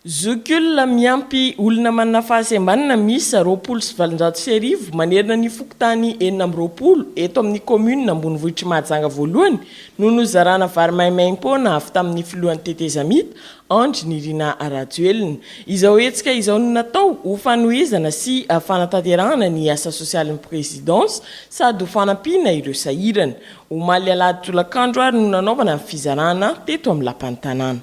Zokiolona miampy olona manana fahasembanana miisa roapolo sy valonjato sy arivo manerana ny fokontany enina amby roapolo eto amin'ny kaominina ambonivohitr'i Mahajanga voalohany no nozarana vary maimaimpoana avy tamin'ny filohan'ny tetezamita, Andry Nirina Rajoelina. Izao hetsika izao no natao ho fanohizana sy fanatanterahana ny asa sosialin'ny prezidansa sady ho fanampiana ireo sahirana. Omaly alahady tolakandro ary no nanaovana ny fizarana teto amin'ny lapan'ny tanàna.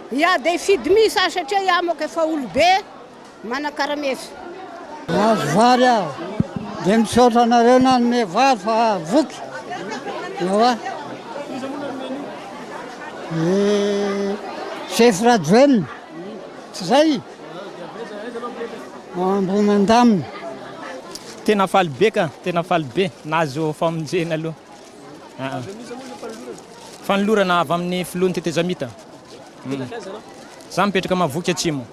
Ia de hifidy miss aho satria iaho moka efa olobe manakarameso. Mahazo vary aho de misaotra anareo nanome vary fa voky ewa e chef Rajoel tsy zay Ambohimandamina. Tena faly be ka, tena faly be nahazo famonjena aloha. Fanolorana avy amin'ny filohan'ny tetezamita. Za mipetraka Mahavoky Atsimo.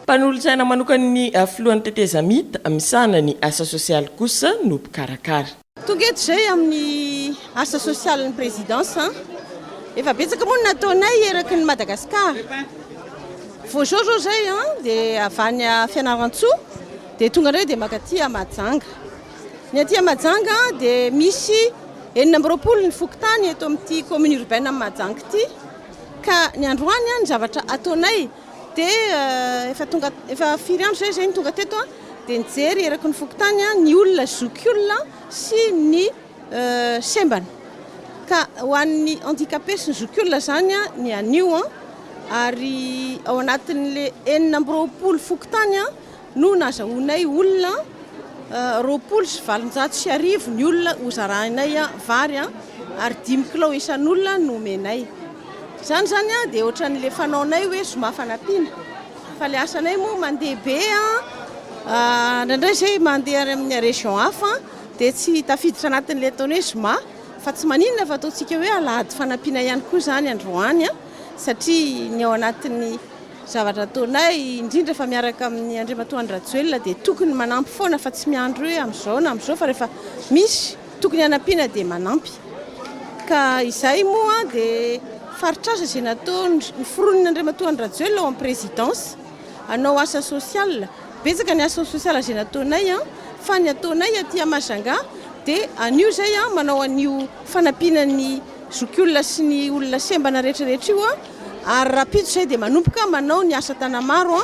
Mpanolotsaina manokan'ny filohan'ny tetezamita misahana ny asa sosialy kosa no mpikarakara. Tonga eto izay amin'ny asa sosialin'ny Présidence. Efa betsaka moa no nataonay eraky ny Madagascar. Vao izao izao izay dia avy any Fianarantsoa dia tonga indray dia mankaty Mahajanga. Ny aty Mahajanga dia misy enina amby roapolo ny fokontany eto amin'ity commune urbaine an'i Mahajanga ity ka ny androany ny zavatra ataonay dia euh, efa tonga efa firy andro zay zay ny tonga teto dia nijery eraky ny fokontany ny olona zokiolona sy ny euh, sembana ka ho an'ny handicapé sy ny zokiolona zany ny anio ary ao anatin'le enina amby roapolo fokontany no nazahoanay olona roapolo sy valonjato sy arivo ny olona ho zarahinay vary ary dimy kilao isan'olona no omenay. Izany izany dia ohatran'ilay fanaonay hoe zoma fanampiana. Fa ilay asanay moa mandeha be, indraindray izay mandeha any amin'ny région hafa dia tsy tafiditra anatin'ilay ataony hoe zoma fa tsy maninona fa ataontsika hoe alahady fanampiana ihany koa izany androany satria ny ao anatin'ny Zavatra ataonay, indrindra fa miaraka amin'ny Andriamatoa Andry Rajoelina dia tokony manampy foana fa tsy miandry hoe amin'izao na amin'izao fa rehefa misy tokony hanampiana dia manampy. Ka izahay moa dia faritr'asa izay nataony, noforonin'ny Andriamatoa Andry Rajoelina ao amin'ny Présidence hanao asa social. Betsaka ny asa social izay nataonay fa ny ataonay aty à Majunga dia an'io izay manao an'io fanampiana ny zokiolona sy ny olona sembana rehetra rehetra io. ary rahampitso izay dia manomboka manao ny asa tanamaro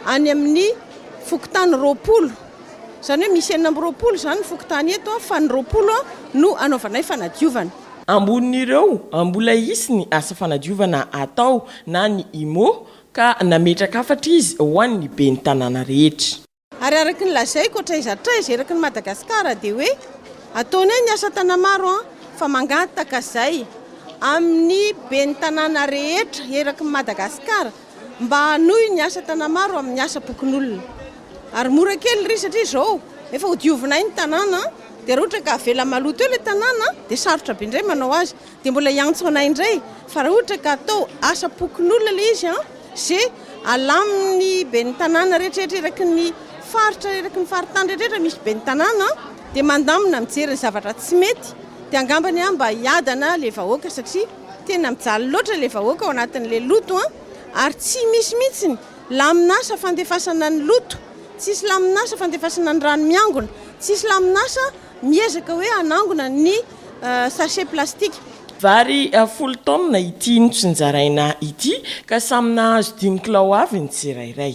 any amin'ny fokontany roapolo, izany hoe misy enina amby roapolo izany ny fokontany eto fa ny roapolo no hanaovanay fanadiovana. Ambonin'ireo mbola hisy ny asa fanadiovana hatao na ny IMO ka nametraka hafatra izy ho an'ny ben'ny tanàna rehetra. Ary araka ny lazaiko hatraiza hatraiza eraky ny Madagasikara dia hoe ataonay ny asa Tanamaro an! fa mangataka izay amin'ny ben'ny tanàna rehetra eraky ny Madagasikara mba hanohy ny asa Tanamaro amin'ny asam-pokonolona. Ary mora kely ry satria izao efa ho diovinay ny tanàna dia raha ohatra ka avela maloto eo ilay tanàna dia sarotra be indray manao azy. Dia mbola hiantso anay indray fa raha ohatra ka atao asa pokonolona ilay izy an! ze alamin'ny ben'ny tanàna rehetrarehetra eraky ny faritra eraky ny faritany rehetrarehetra misy ben'ny tanàna an! dia mandamina mijery ny zavatra tsy mety dia angambany an! mba hiadana ilay vahoaka satria tena mijaly loatra ilay vahoaka ao anatin'ilay loto an! ary tsy misy mihitsy ny lamin'asa fandefasana ny loto, tsisy lamin'asa fandefasana ny rano miangona, tsisy lamin'asa. Miezaka hoe hanangona ny sachet plastique. Vary folo taonina ity notsinjaraina ity ka samy nahazo dimy kilao avy ny tsirairay.